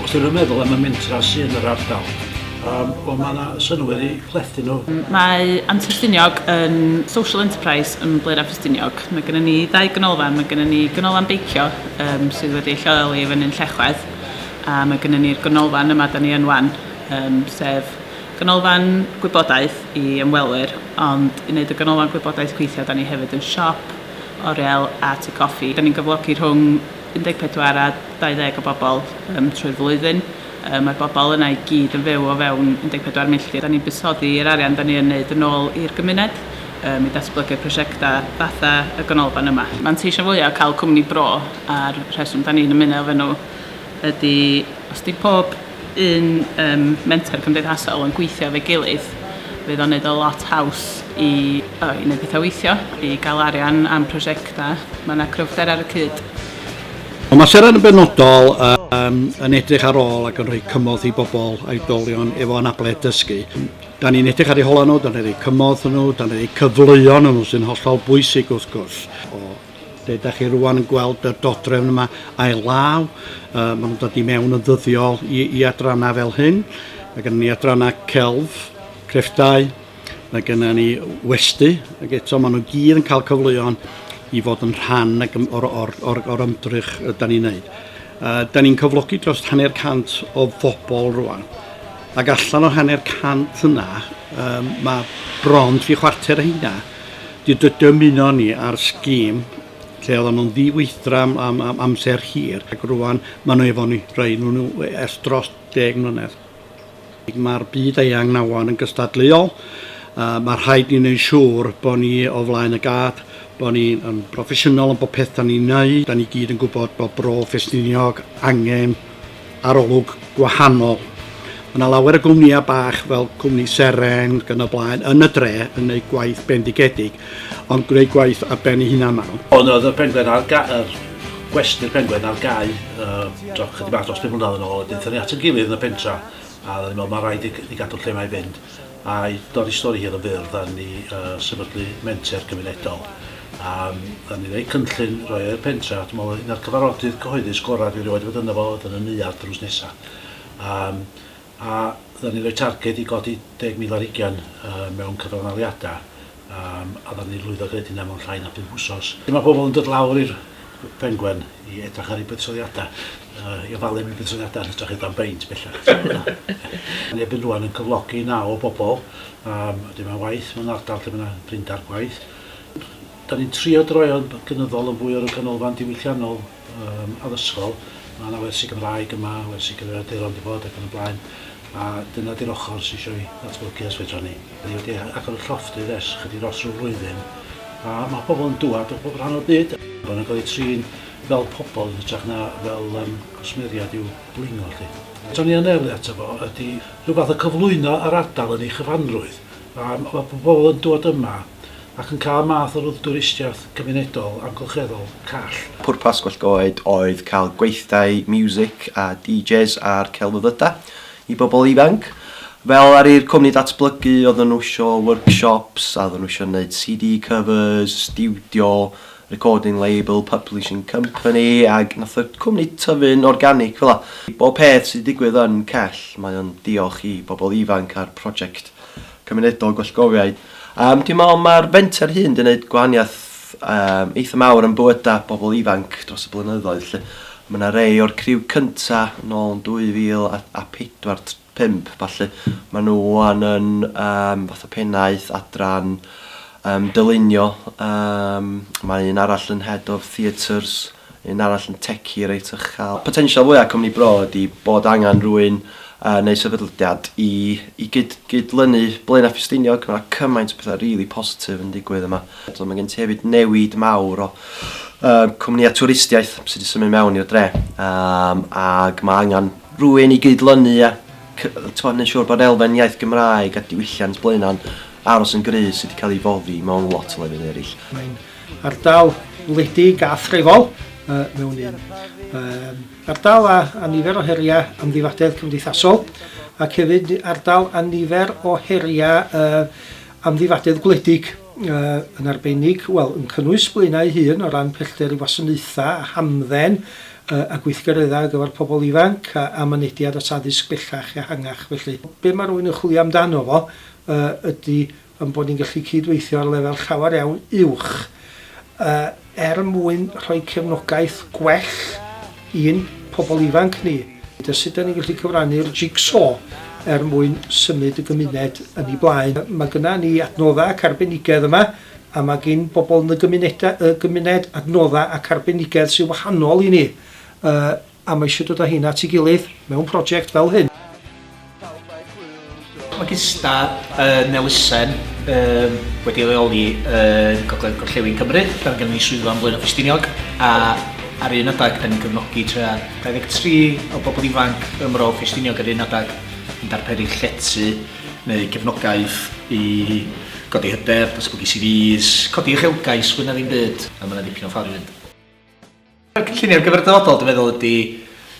Os ydych yn meddwl am y mentra sydd yn yr ardal, um, o mae yna synwyr i plethu nhw. Mae Antrestiniog yn social enterprise yn Blaen a Ffestiniog. Mae gennym ni ddau ganolfan, mae gennym ni ganolfan beicio um, sydd wedi lleoli i fyny'n Llechwedd, a mae gennym ni'r ganolfan yma da ni yn wan, um, sef ganolfan gwybodaeth i ymwelwyr, ond i wneud y ganolfan gwybodaeth gweithio da ni hefyd yn siop, oriel a tŷ coffi. Da ni'n gyflogi rhwng 14 a 20 o bobl um, trwy'r flwyddyn. Um, mae'r bobl yna i gyd yn fyw o fewn 14 milltir. Da ni'n buddsoddi yr arian da ni yn wneud yn ôl i'r gymuned um, i datblygu prosiectau fatha y ganolfan yma. Manteision fwyaf o cael cwmni bro a'r rheswm da ni'n ymuno efo nhw ydy os di pob un yym menter cymdeithasol yn gweithio efo'i gilydd fydd o'n neud o lot haws i o i neud petha weithio i ga'l arian am prosiecta ma' 'na cryfder ar y cyd. Ond mae Seren yn benodol um, yn edrych ar ôl ac yn rhoi cymorth i bobl aedolion efo anabledd dysgu. Da ni'n edrych ar ei hola nhw, da ni'n rhoi cymorth nhw, da ni'n rhoi cyfleoedd nhw sy'n hollol bwysig wrth gwrs. O Lle da chi rwan yn gweld y dodrefn yma ail law, uh, maen nhw'n dod i mewn yn ddyddiol i, i adrannau fel hyn. Mae gennym ni adrannau celf, crefftau, mae gennym ni westy, ac eto maen nhw gyd yn cael cyfleon i fod yn rhan o'r, or, or, or ymdrych y da ni'n neud. Uh, da ni'n cyflogi dros hanner cant o fobl rwan. Ac allan o hanner cant yna, um, mae bron tri chwarter o hynna Dy- dy- Dymunon ni ar scheme lle oedden nhw'n ddiweithdra am, am, am amser hir ac rwan maen nhw efo ni, rhaid nhw nhw ers dros deg mlynedd. Mae'r byd eang nawan yn gystadleuol a mae rhaid ni wneud siŵr bod ni o flaen y gad, bod ni'n broffesiynol yn bod peth da ni'n neud, da ni gyd yn gwybod bod Bro Ffestiniog angen arolwg gwahanol. Mae yna lawer o gwmnïau bach fel cwmni Seren ac yn y blaen yn y dre yn gwneud gwaith bendigedig, ond gwneud gwaith ar ben ei hunan maen nhw. Ond oedd y Penguin ar ga- yr gwesty'r Penguin ar gau yy t'o' chydig bach dros pum mlynadd yn ôl a deuthon ni at 'yn gilydd yn y pentra a oedden ni'n me'wl ma' raid i i gadw'r lle 'ma i fynd. I dorri stori hir yn fyr, dan ni yn sefydlu menter gymunedol a dan ni'n gwneud cynllun roi o i'r pentre a dwi'n meddwl un o'r cyfarfodydd cyhoeddus gorau dwi erioed wedi bod ynddo fo oedd yn y neuadd drws nesaf yym a dan ni'n rhoi targed i godi deg mil ar hugain mewn cyfranaliadau Yym, a ddaru ni lwyddo greu hynna mewn llai na phump wsos. Mae pobl yn dod lawr i'r Pengwern i edrych ar ei buddsoddiadau, yy i ofalu am ei buddsoddiadau yn hytrach i dan beint bellach. Mae Erbyn Rwan yn cyflogi naw o bobl, yym, wedyn mae'n waith mewn ardal lle mae 'na blinder gwaith. Dan ni'n trio droi o'n gynyddol yn fwy o ryw ganolfan diwylliannol. Yym, addysgol. Mae 'na wersi Gymraeg yma, wersi cyfrifiaduron 'di bod ac yn y blaen, a dyna 'di'r ochr sy isio 'i ddatblygu os fedran ni. 'Da ni wedi a- agor y llofftydd ers chydig dros ryw flwyddyn, a ma' pobl yn dŵad o bob rhan o'r byd. Bo' nhw'n cael eu trin fel pobl yn hytrach na fel yym cwsmeriaid i'w blingo 'lly. Beth o'n i yn erlid ato fo ydi rhyw fath o cyflwyno yr ardal yn ei chyfanrwydd. Yym, ma' pobl yn dŵad yma ac yn cael math o ruddtwristiaeth gymunedol amgylcheddol call. Pwrpas Gwell Goed oedd cael gweithdai miwsic a DJs a'r celfyddydau i bobl ifanc. Fel ddaru'r cwmni ddatblygu, oedden nhw isio workshops, a oedden nhw isio neud CD covers, stiwdio, recording label, publishing company, ac nath y cwmni tyfu'n organic fela. Bob peth sydd 'di digwydd yn Cell, mae o'n diolch i bobl ifanc a'r project. cymunedol gwellgofiau. Yym dwi'n meddwl mae'r fenter hyn wedi gwneud gwahaniaeth um, eitha mawr yn bywydau pobl ifanc dros y blynyddoedd. Lle. Mae yna rei o'r criw cynta yn ôl yn 2004-5, falle maen nhw wan yn um, fath o pennaeth adran um, dylunio. Um, mae un arall yn head of theatres Un arall yn techie reit uchel. Potensial fwya cwmni bro ydi bod angen rwyn neu sefydldiad i i gyd gydlynu Blaenau Ffestiniog, ma cymaint o betha rili positif yn digwydd yma. T'od ma gen ti hefyd newid mawr o yy cwmnïa twristiaeth sy di symud mewn i'r dre yym ag ma angen rwyn i gydlynu a cy- t'mod neu siwr bod elfen iaith Gymraeg a diwylliant Blaenau'n aros yn gry sy di ca'l i foddi mewn lot o lefydd erill. Ardal wledig a threfol mewn un. Ardal â nifer o heriau amddifadedd cymdeithasol ac hefyd ardal â nifer o heriau amddifadedd gwledig yn arbennig, wel, yn cynnwys Blaenau ei hun o ran pellter i wasanaethau a hamdden a gweithgareddau ar gyfer pobl ifanc a mynediad at addysg bellach ehangach felly. Be mae rhywun yn chwilio amdano fo ydy ein bod ni'n gallu cyd-weithio ar lefel llawer iawn uwch er mwyn rhoi cefnogaeth gwell i'n pobl ifanc ni, a sut dan ni'n gallu cyfrannu'r jig-so er mwyn symud y gymuned yn ei blaen. Mae gyda ni adnoddau ac arbenigedd yma, a mae gan bobl yn y gymuned adnoddau ac arbenigedd sy'n wahanol i ni. A mae eisiau dod a heina at ei gilydd mewn prosiect fel hyn. Mae Gystad yn elusen yym wedi ei leoli yn Gogledd Gorllewin Cymru, lle mae gennym ni swyddfa yn Blaenau Ffestiniog, a ar un adeg yn cefnogi tua 23 o bobl ifanc ym Mro Ffestiniog, ar un adeg yn darperu llety neu gefnogaeth i godi hyder, datblygu CVs, codi uchelgais, fwy na ddim byd, a mae 'na ddipyn o ffordd i fynd. Y cynllunio gyfer y dyfodol, dwi'n meddwl, ydy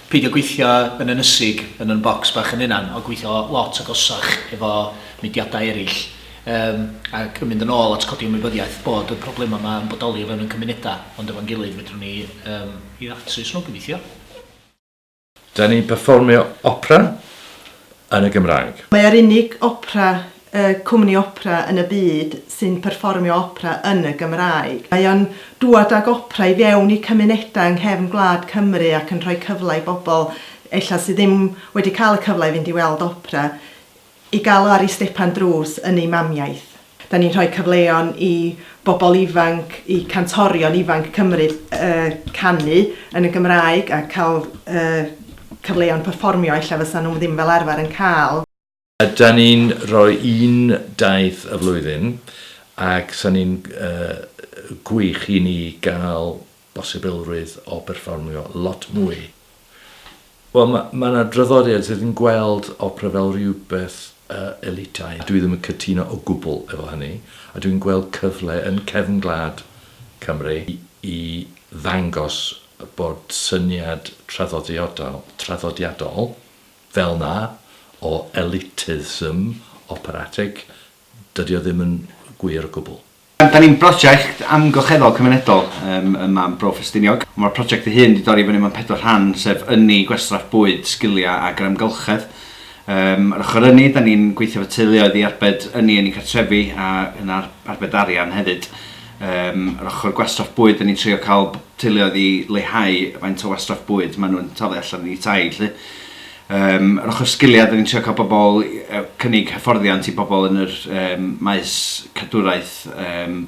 peidio gweithio yn ynysig yn yn bocs bach yn hunan, ond gweithio lot agosach efo mudiadau eraill, um, ac yn mynd yn ôl at codi ymwybyddiaeth bod y problemau yma yn bodoli o fewn ein cymunedau, ond efo'n gilydd fedrwn ni um, i ddatrys nhw, gobeithio. Da ni'n perfformio opera yn y Gymraeg. Mae e'r unig opera, yy, cwmni opera yn y byd sy'n perfformio opera yn y Gymraeg. Mae o'n dŵad ag opera i fewn i cymunedau yng nghefn gwlad Cymru ac yn rhoi cyfle i bobl ella sydd ddim wedi cael y cyfle i fynd i weld opera I gael o ar ei stepan drws yn ei mamiaith. Dan ni'n rhoi cyfleon i bobl ifanc, i cantorion ifanc Cymru canu yn y Gymraeg a cael cyfleon perfformio ella fysa nhw ddim fel arfer yn cael. Dan ni'n rhoi un daith y flwyddyn ac 'sa ni'n gwych i ni gael bosibilrwydd o berfformio lot mwy. Wel, ma- ma' 'na draddodiad sydd yn gweld opera fel rhywbeth yy elitaidd. Dwi ddim yn cytuno o gwbl efo hynny, a dwi'n gweld cyfle yn cefn gwlad Cymru i i ddangos bod syniad traddodiodol traddodiadol fel 'na o elitism operatic, dydi o ddim yn gwir o gwbl. Da ni'n brosiect amgylcheddol cymunedol ym Mab Bro Ffestiniog. Mae'r prosiect ei hun wedi dorri fyny mewn pedwar rhan, sef ynni, gwastraff bwyd, sgiliau ac yr amgylchedd. Ar ochr ynni, da ni'n gweithio efo teuluoedd i arbed ynni yn eu cartrefi a yn arbed arian hefyd. Ar ochr gwastraff bwyd, da ni'n trio cael teuluoedd i leihau faint o wastraff bwyd maen nhw'n taflu allan o'u tai 'lly. Yym, yr ochr sgiliau, dan ni'n trio cael pobl, yy cynnig hyfforddiant i bobl yn yr yym maes cadwraeth yym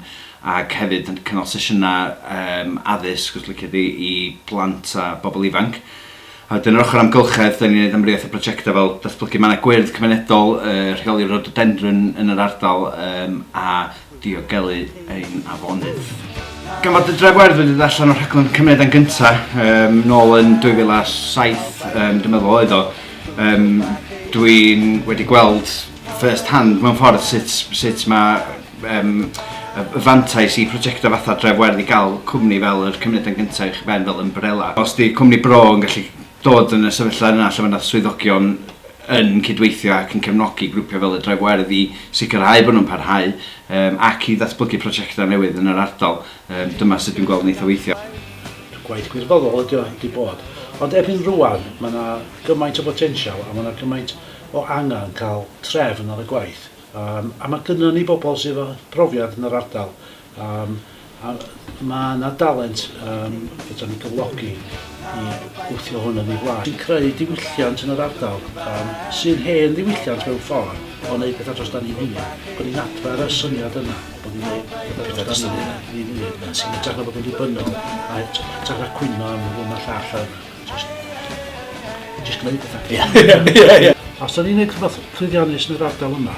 ac hefyd yn cynnal sesiynau yym addysg os liciwch chi i blant a bobl ifanc. A wedyn yr ochr amgylchedd, dan ni'n gwneud amrywiaeth o brojectau fel datblygu mannau gwyrdd cymunedol, yy rheoli rhododendron yn yr ardal yym a diogelu ein afonydd. Gan fod y dref werdd wedi dod allan o'r rhaglen Cymru dan Gynta' yym nôl yn 2007 yym dwi'n meddwl oedd o yym dwi'n wedi gweld first hand mewn ffordd sut sut ma' yym y y fantais i prosiectau fatha dref werdd i gael cwmni fel yr Cymru dan Gynta' uwchben fel ymbrela. Os 'di cwmni bro yn gallu dod yn y sefyllfa yna lle mae 'na swyddogion yn cydweithio ac yn cefnogi grwpiau fel y Dre Werdd i sicrhau bod nhw'n parhau yym ac i ddatblygu prosiectau newydd yn yr ardal. Yym dyma sut dwi'n gweld yn eitha weithio. Gwaith gwirfoddol ydy o, wedi bod. Ond erbyn rŵan, mae 'na gymaint o botensial a mae 'na gymaint o angen cael trefn ar y gwaith. Yym a mae gynnon ni bobl sydd efo profiad yn yr ardal. Yym a mae yna dalent yym fedrwn ni gyflogi i gwthio hwn yn ei flaen. Sy'n creu diwylliant yn yr ardal yym sy'n hen ddiwylliant mewn ffordd o wneud pethau dros dan ni'n hun. Bod ni'n adfer y syniad yna bod ni'n wneud pethau dros dan ni'n hun, ni'n hun yn hytrach na bod yn ddibynnol a hyt- hytrach na cwyno am hwn a'r llall a jyst jyst gwneud pethau. Ie ie ie. Os 'dan ni'n neud rhywbeth llwyddiannus yn yr ardal yma